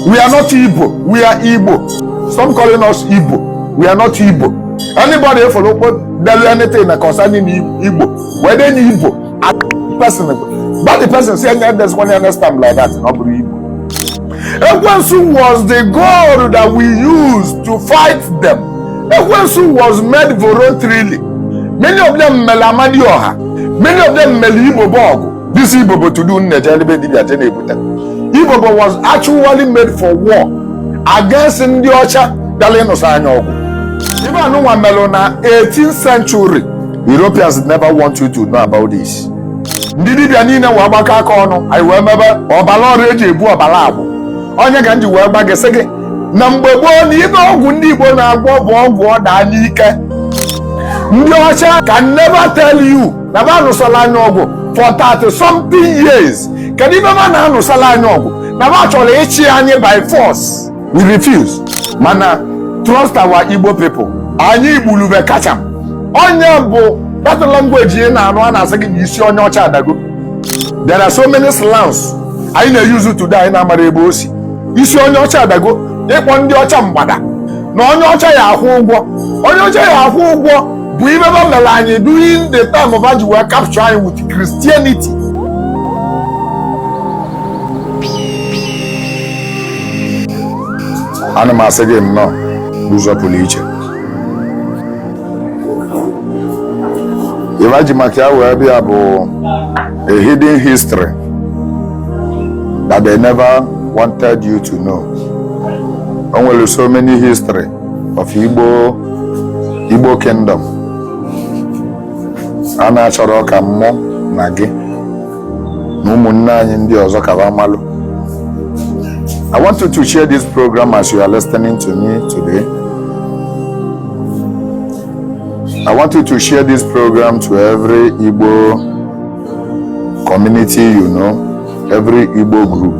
we are not ibo we are igbo stop calling us ibo we are not ibo anybody ị fụlụ kpo delu anything na concerning igbo wee denye ibo person but the person say anya des one next time like that ọ bụrọ igbo ekwensu was the god that we used to fight them ekwensu was made voluntarily many of them melu amadioha many of them melu ibobo ọgụ This Ibobo today Nneje Elebe Dibia je na-ebute. Ibobo was actually made for war against ndị ọcha bịara ịnụsa anyị ọgụ. Ibe anụnwa melụ na 18th century Europeans never want you to know about this. Ndị dibia niile wee gbakọ aka ọnụ anyị wee mebe ọbara ọrụ eji ebu ọbara agbụ. Ọ nya ka m ji wee gwa gị sị gị na mgbe gboo na ibe ọgwụ ndị Igbo na-agwọ bụ ọgwụ ọ daa n'ike. Ndị ọcha can never tell you na ba nụsala anyị ọgụ for 30 something years kedu ibe ba na-anụsala anyị ọgụ na ba chọlụ ịchị anyị by force we refuse mana trust our Igbo people anyị igbulube kacha ọ nya bụ that language ị na-anụ a na-asị gị na isi onye ọcha adago there are so many slangs anyị na-use today anyị na-amara ebe o si isi onye ọcha adago ịkpọ ndị ọcha mgbada na onye ọcha ya akwụ ụgwọ onye ọcha ya akwụ ụgwọ bụ ibe ba melu anyị during the time va ji wee capture anyị with Christianity ana m asị gị nnọọ n'ụzọ pụlụ iche ibe ji maka ya wee bịa bụ a hidden history that they never wanted you to know o nwelu so many history of Igbo Igbo Kingdom a na-achọrọ ka mmụ na gị na ụmụnne anyị ndị ọzọ ka ba malụ I want you to share this program as you are listening to me today. I want you to share this program to every Igbo community you know, every Igbo group.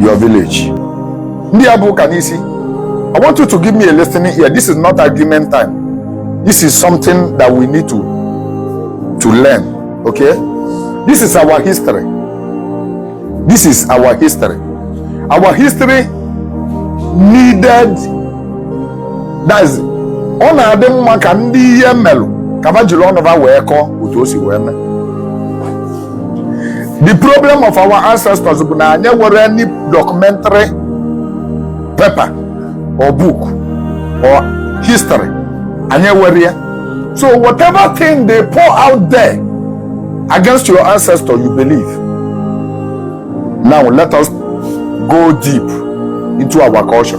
your village ndị a bu ụka n'isi I want you to give me a listening ear this is not argument time this is something that we need to to learn okay this is our history this is our history our history needed that is ọ na-adị mma ka ndị ihe melụ ka va jiri ọnụ va wee kọọ otu o si wee mee the problem of our ancestors bụ na anyị enwerọ any documentary paper or book or history anyị enwerọ ya so whatever thing they pour out there against your ancestor you believe now let us go deep into our culture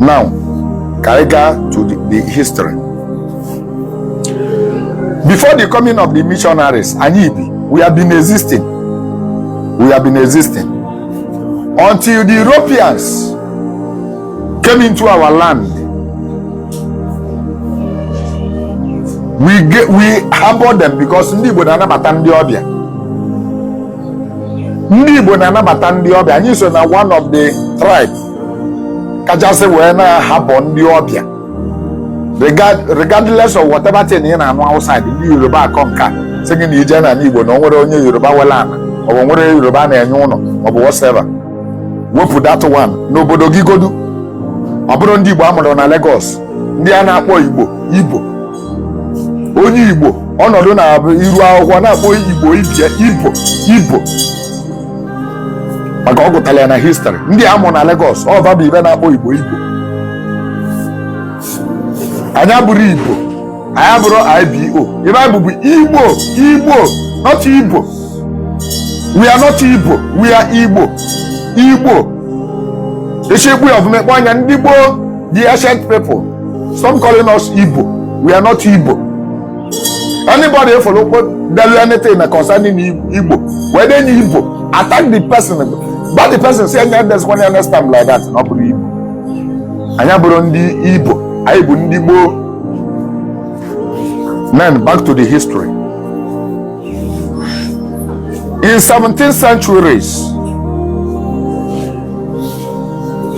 now ka anyị gaa to the, the history before the coming of the missionaries anyị bi we have been existing we have been existing until the europeans came into our land we get, we harbour them because ndị igbo na-anabata ndị ọbịa ndị igbo na-anabata ndị ọbịa anyị so na one of the tribe kachasị wee na-harbour ndị ọbịa Regard- regardless of whatever thing ị na-anụ outside ndị yoruba akọ nka sị gị na ị je n'ana igbo na o nwerọ onye yoruba nwelụ ana ọ bụ o nwerọ yoruba na-enye ụnọ ọ bụ whatever wepụ that one n'obodo gị godu ọ bụrụ ndị igbo a mụrụ na Lagos ndị a na-akpọ igbo ibo onye igbo ọ nọdụ na-abụ iru akwụkwọ na-akpọ igbo ibie ibo ibo maka ọ gụtara ya na history ndị a mụ na Lagos ọ va bụ ive na-akpọ Igbo Ibo anyị abụrọ Ibo anyị abụrọ IBO ive anyị bụ bụ Igbo Igbo not Ibo we are not Ibo we are Igbo Igbo e si ekwu ya ọfụma a kpọ anyị ndị gboo the ancient people some calling us Ibo we are not Ibo anybody ị fụlụ delụ anything na concerning igbo wee denye ibo attack the person gwa the person sị nya edezina next time like that na ọ bụrọ ibo anyị abụrọ ndị ibo anyị bụ ndị gboo then back to the history in 17th centuries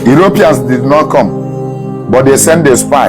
Europeans did not come, but they sent a spy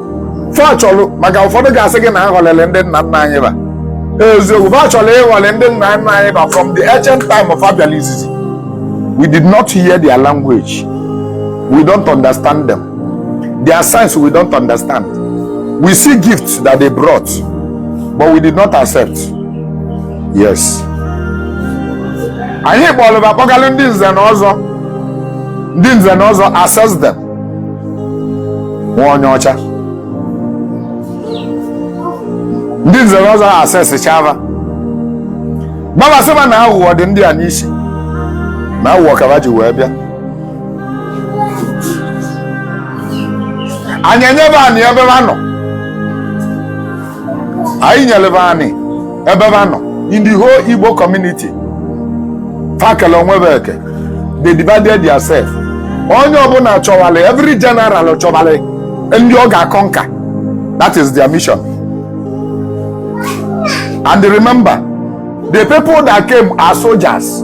fa chọrọ maka ụfọdụ ga-asị gị na a ghọlelị ndị nna nna anyị ba eziokwu fa chọrọ ịghọle ndị nna nna anyị ba from the ancient time fa bịalụ izizi we did not hear their language we don't understand them their signs we don't understand we see gifts that they brought but we did not accept yes anyị kpọlụ ba kpọgalụ ndị nze na ọzọ ndị nze na ọzọ assess them nwa onye ọcha ndị nze na ọzọ assesschaa va gwa va sị ba na aghụghọ dị ndị a n'isi na aghụghọ ka va ji wee bịa anyị enyebe anyị ebe ha nọ anyị nyele fa anị ebe fa nọ in the whole igbo community fa kele onwe fa eke they divided theirself onye ọbụla chọwalị every general chọwalị ndị ọ ga-aconquer that is their mission and remember the people that came are soldiers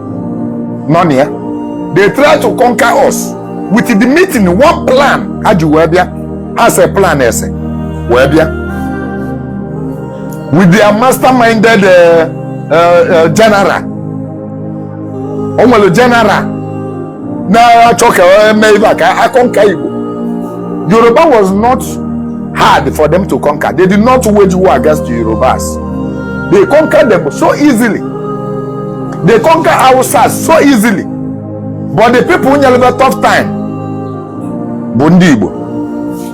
nọ na ya they try to conquer us with the meeting one plan ha ji wee bịa ha se plan ese wee bịa with their masterminded uh, uh, uh, general o nwere general na-achọ ka e mee ife a ka a conquer Igbo Yoruba was not hard for them to conquer they did not wage war against the Yorubas they conquered them so easily they conquer Hausas so easily but the people nyele fa tough time bụ ndị Igbo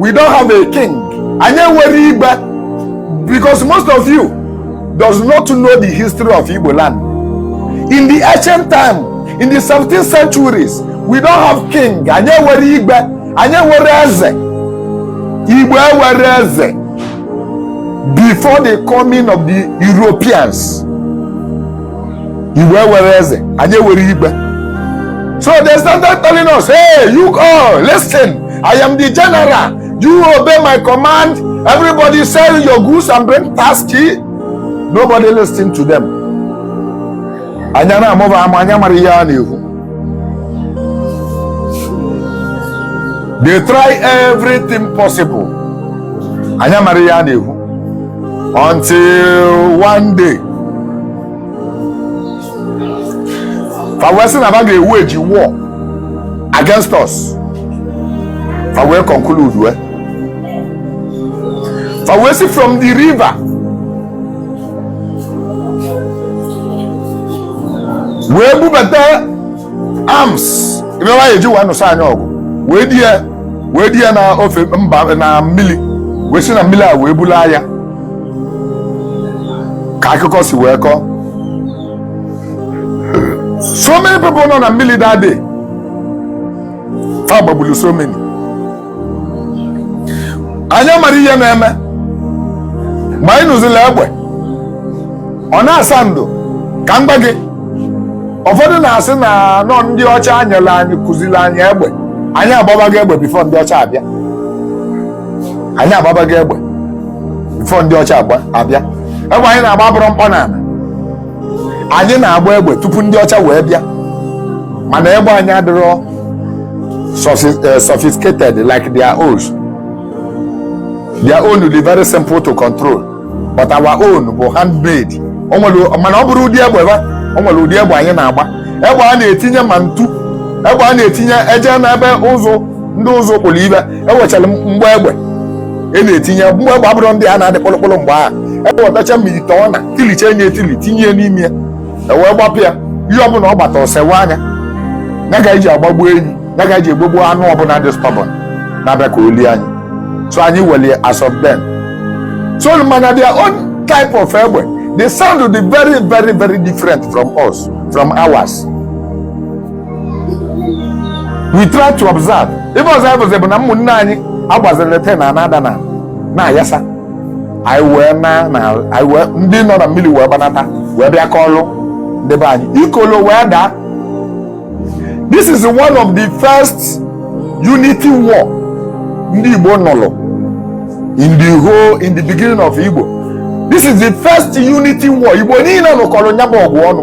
we don't have a king anyị enwere igwe because most of you does not know the history of igbo land in the ancient time in the 17th centuries we don't have king anyị enwere igwe anyị enwere eze igbo enwere eze before the coming of the europeans Igbo enwere eze anyị enwere igwe so they started telling us hey you all listen I am the general you obey my command everybody sell your goods and bring tax nobody listen to them anyị na-amụ fa amụ anyị amara ihe a na-ekwu they try everything possible anyị amara ihe a na-ekwu until one day fa wee sị na ba ga-ewage war against us fa wee conclude wee fa wee si from the river wee bubata arms ife fa ji wee nụsa anyị ọgụ wee di ya wee di ya na ofe mba na mmiri wee si na mmiri a wee bulu aya ka akụkọ si wee kọọ so many people nọ na mmiri that day fa gbagburu so many anyị amara ihe na-eme ma anyị nụzila egbe ọ na-asound ka m gwa gị ụfọdụ na-asị na nọ ndị ọcha nyele anyị kụziri anyị egbe anyị agbabago egbe before ndị ọcha abịa anyị agbabago egbe before ndị ọcha agba- abịa egbe anyị na-agba bụrụ mkpọ n'ala anyị na-agba egbe tupu ndị ọcha wee bịa mana egbe anyị adịrọ sophisticated like their own their own will be very simple to control but our own bụ handmade mana ọ bụrọ ụdị egbe ba o nwere ụdị egbe anyị na-agba egbe a na-etinye ma ntụ egbe a na-etinye eje n'ebe ụzụ ndị ụzụ kpụrụ ibe ewechara mgbọ egbe e na-etinye mgbọ egbe a bụrụ ndị a na-adị kpụlụkpụlụ mgbe ahụ ewetacha e ma ite ọ na tilicha enye etili tinye n'ime ya ewee gbapụ ya ihe ọbụla ọ gbata ọ sewaa nya ya ka eji agbagbu enyi ya ka eji agbagbu anụ ọbụla dị stubborn na-abịa ka o lie anyị so anyị welie as of then so mana their own type of egbe the sound dị very very very different from us from ours we try to observe ife anyị fụzi bụ na ụmụnne anyị agbaziri ten na anada na na-ayasa anyị wee na na anyị wee ndị nọ na mmili wee gbanata wee bịa kọlụ ndị be anyị ikolo wee daa this is one of the first unity war ndị igbo nụrụ in the beginning of igbo this is the first unity war igbo niile nụkọrọ nyabụ ọgụ ọnụ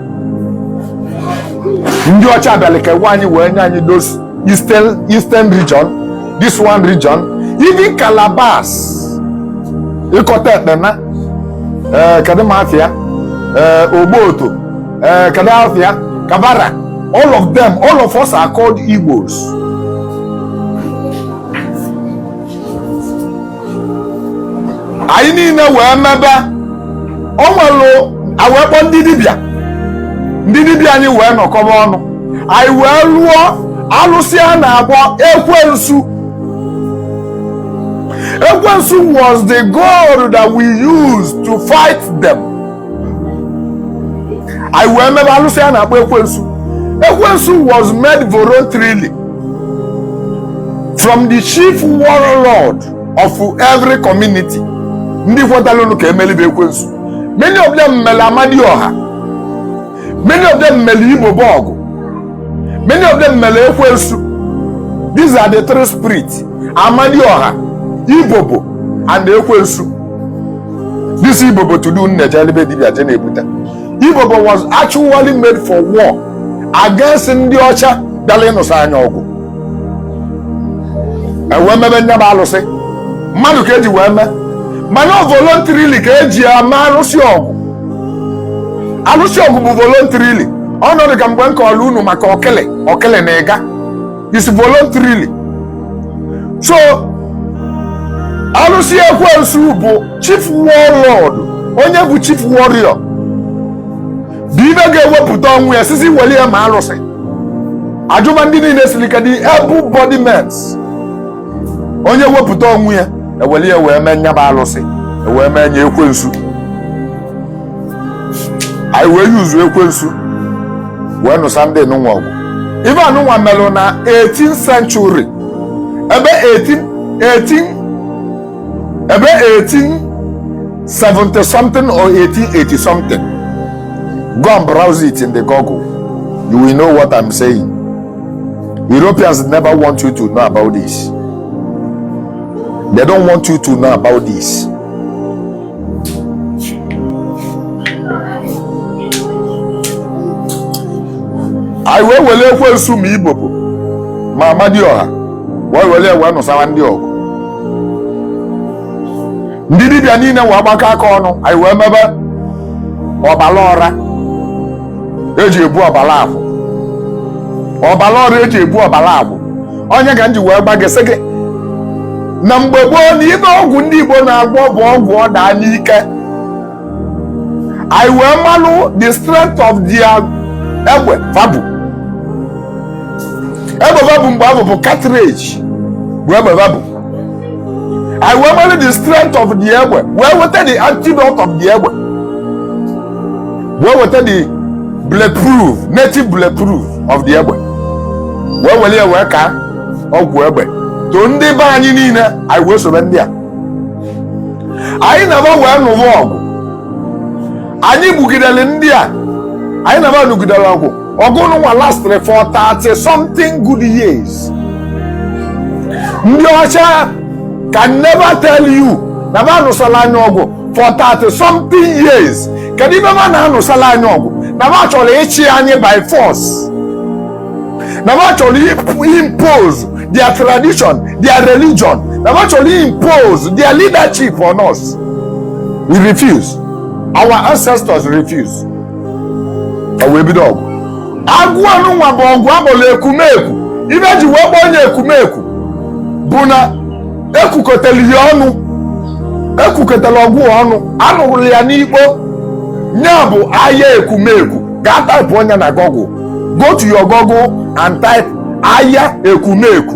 ndị ọcha bịalụ kewaa anyị wee nye anyị those eastern region this one region even Calabars Ikot Ekpene ee kedu ma afịa ee ogboto ee kedu afịa kabara all of them all of us are called igbos anyị niile wee mebe o nwere awee kpọọ ndị dibịa ndị dibịa anyị wee nọkọba ọnụ anyị wee lụọ alụsị a na-akpọ ekwensu ekwensu was the god that we used to fight them anyị wee mebe alụsị a na-akpọ ekwensu ekwensu was made voluntarily from the chief warlord of every community ndị kwetalụnụ ka emelibe ekwensu many of them mere amadioha many of them mere ibobo ọgụ many of them mere ekwensu these are the three spirits amadioha ibobo and ekwensu This Ibobo to do na-ejeli be dibịa je na-ebuta. Ibobo was actually made for war against ndị ọcha bịara ịnụsa anyị ọgụ. Ewee mebe nya bụ alụsị. Mmadụ ka eji wee mee. Mana voluntarily ka eji eme alụsị ọgụ. Alụsị ọgụ bụ voluntarily. Ọ na-adị ka mgbe m kọọrọ unu maka ọkele ọkele na ịga. is voluntarily so alụsị ekwensu bụ chief warlord onye bụ chief warrior bụ ive ga-ewepụta onwe ya sị sị weli ya mee alụsị a jụba ndị niile siri ike dị able body mens onye wepụta onwe ya e weli ya wee mee nya bụ alụsị e wee mee nya ekwensu anyị wee use ekwensu wee nụsa ndị nụnwa ọgụ ive anụnwa melụ na 18 century ebe 1870 something or 1880 something go and browse it in the google you will know what i'm saying europeans never want you to know about this they don't want you to know about this anyị wee were ekwensu ma ibobo ma amadioha wee were ya wee nụsawa ndị a ọgụ ndị dibịa niile wee gbakọ aka ọnụ anyị wee mebe ọbala ọra eji ebu ọbala akwụ ọbala ọra eji ebu ọbala akwụ ọ nya ka m ji wee gwa gị sị gị na mgbe gboo na ive ọgwụ ndị Igbo na-agwọ bụ ọgwụ ọ daa n'ike anyị wee malụ the strength of their egbe va bu egbe va bu mgbe ahụ bụ cartridge bụ egbe va bu anyị wee malụ the strength of the egbe wee weta the antidote of the egbe wee weta the bulletproof native bulletproof of the egbe wee were ya wee kaa ọgwụ egbe to ndị be anyị niile anyị wee sobe ndị a anyị na va wee nụwa ọgụ anyị gbugidere ndị a anyị na va nụgidere ọgụ ọgụ nụnwa lastere for 30 something good years ndị ọcha can never tell you na va anụsala anyị ọgụ for 30 something years kedu ive va na-anụsala anyị ọgụ na va chọrọ ịchị anyị by force na va chọrọ impose their tradition their religion na va chọrọ impose their leadership on us we refuse our ancestors refuse ọ wee bido ọgụ ọgụ anụnwa bụ ọgụ a kpọrọ ekumeku ive e ji wee kpọọ nya ekumeku bụ na e kukọtara ya ọnụ e kukọtara ọgụ a ọnụ a nụrụ ya n'ikpo nya bụ aya ekumeku gaa taịpụ nya na google go to your google and type aya ekumeku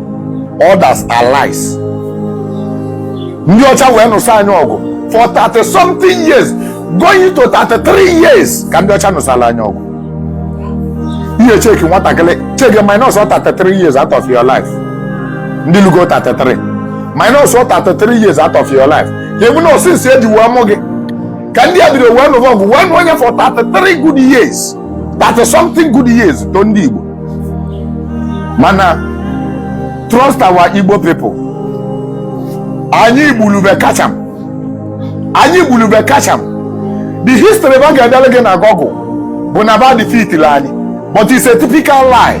others are lies ndị ọcha wee nụsa anyị ọgụ for 30 something years going to 33 years ka ndị ọcha nụsala anyị ọgụ ihe cheki nwatakịrị cheki minus 33 years out of your life ndị lugo 33 minus 33 years out of your life ka ọ bụ na since e ji wee mụ gị ka ndị a bido wee nụwa ọgụ wee nụ onye for 33 good years 30 something good years to ndị Igbo mana trust our Igbo people anyị gbulu ba kacham anyị gbulu ba kacham the history ba ga-edere gị na Google bụ na ba defeatiri anyị but it's a typical lie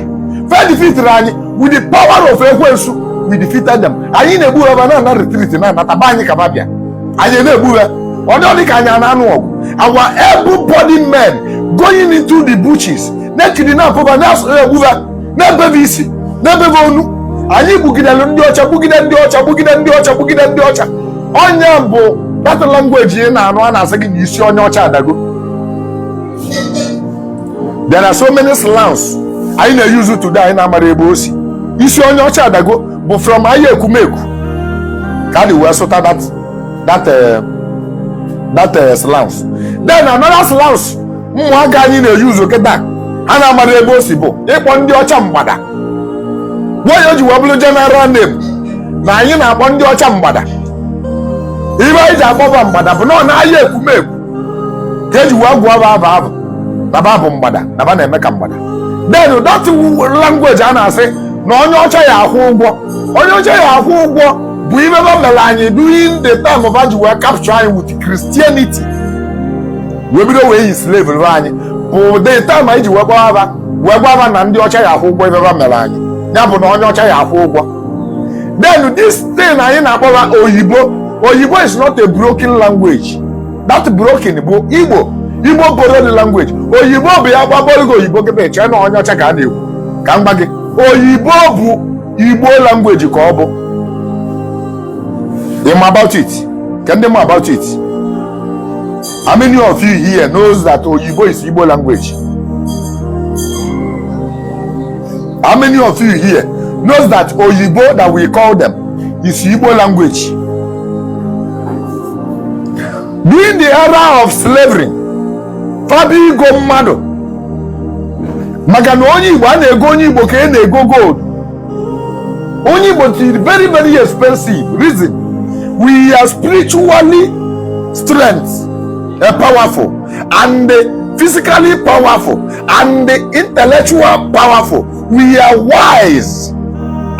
fa defeatiri anyị with the power of ekwensu we defeated them anyị na-egbu ha ba na-ana retreat na-anata ba anyị ka ba bịa anyị na-egbu ha ọ dị ka anyị na-anụ ọgụ our able body men going into the bushes na-ekiri na-apụba na-asụrụ egbu ba na-ebe ba isi na-ebe ba onu anyị gbugidere ndị ọcha gbugide ndị ọcha gbugide ndị ọcha gbugide ndị ọcha ọ nya bụ that language ị na-anụ a na-asị gị na isi onye ọcha adago there are so many slangs anyị na-use today anyị na-amarọ ebe o si isi onye ọcha adago bụ from aya Ekumeku ka e ji wee sụta that that eh, that eh, slangs then another slangs ụmụaka anyị na-use kịta ha na-amarọ ebe o si bụ ịkpọ ndị ọcha mgbada why o ji wee bụrụ general name na anyị na-akpọ ndị ọcha mgbada ife anyị ji akpọ ba mgbada bụ na ọ n'aya Ekumeku ka e ji wee gụọ ba afa afụ na ba bụ mgbada na ba na-eme ka mgbada then that language a na-asị na onye ọcha ya-akwụ ụgwọ onye ọcha ya-akwụ ụgwọ bụ ife ba mere anyị during the time ba ji wee capture anyị with Christianity wee bido wee enslaverụ anyị bụ the time anyị ji wee gwaba ba wee gwa ba na ndị ọcha ya-akwụ ụgwọ ife ba mere anyị ya bụ na onye ọcha ya-akwụ ụgwọ then this thing anyị na-akpọ ba oyibo oyibo is not a broken language that broken bụ igbo igbo borrowed language oyibo bụ ya gbaboro gị oyibo kịta chee na onye ọcha ka a na-ekwu ka m gwa gị oyibo bụ igbo language ka ọ bụ ịma about it ka ndị ma about it How many of you here knows that Oyibo is Igbo language? How many of you here knows that Oyibo that we call them is Igbo language? During the era of slavery, fa bịa igo mmadụ maka na onye Igbo a na-ego onye Igbo ka a na-ego gold onye Igbo tiri very very expensive reason we are spiritually strength uh, powerful and physically powerful and intellectual powerful we are wise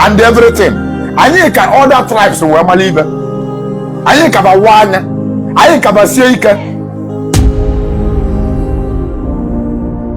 and everything anyị ka other tribes wee mara ibe anyị kaba wa anya anyị kaba sie ike